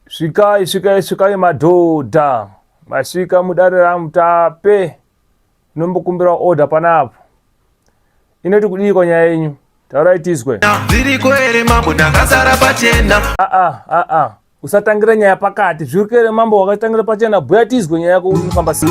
Svikai, svikai, svikai madhodha. Masvika mudare ramutape. Inombokumbira order panapo. Inoti kudii kwa nyaya yenyu? Taurai tizwe. Zviriko here mambo ndakasara pachena. Ah ah ah ah. Usatangira nyaya pakati. Zviriko here mambo wakatangira pachena? Bhuya tizwe nyaya yako unofamba sei?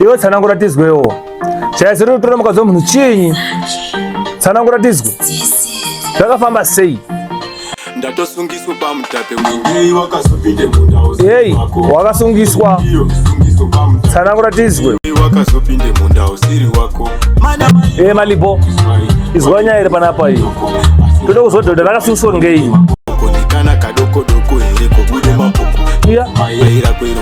Iwe tsanangura tizwewo. Chaya zero kutora mukadzi wemunhu chinyi? Tsanangura tizwe. Zvakafamba sei? Ndatosungiswa pamutape ngei wakazopinde mundau. Hey, wakasungiswa. Tsanangura tizwe. Wakazopinde mundau siri wako. Eh, malibo. Izwa nyaya iri panapa iyi. Toda kuzwa dhodha rakasungiswa ngei? Kana kadoko doko here kobude mapoko. Iya. Maira kwero.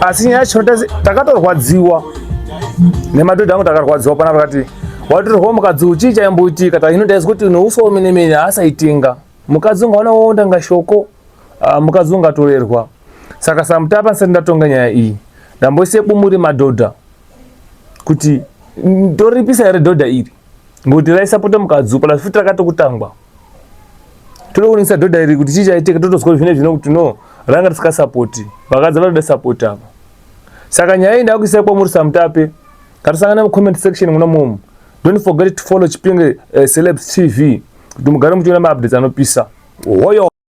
asi nyaya yacho takatorwadziwa nemadhodha angu takarwadziwa pana vakati watorwa mukadzi uchii chaimboitika tahino ndaizi kuti noufa wemenemene haasaitinga mukadzi ungaona woonda nga shoko ah, mukadzi ungatorerwa saka samutapa ndisati ndatonga nyaya iyi ndamboise bumuri madhodha kuti ndoripisa here dhodha iri ngokuti raisapota mukadzi upo futi rakatokutangwa tode kuningisa dhodha iri kuti chii chaitika totozwa zvine zvino kuti no ranga risikasapoti vakadzi vanoda sapoti ava saka nyaya iyi ndakuisai kwamuri samutape ngatisangana mucomment section muna momo don't forget to follow chipinge uh, celebs tv kuti mugare muchiona maupdates anopisa hoyo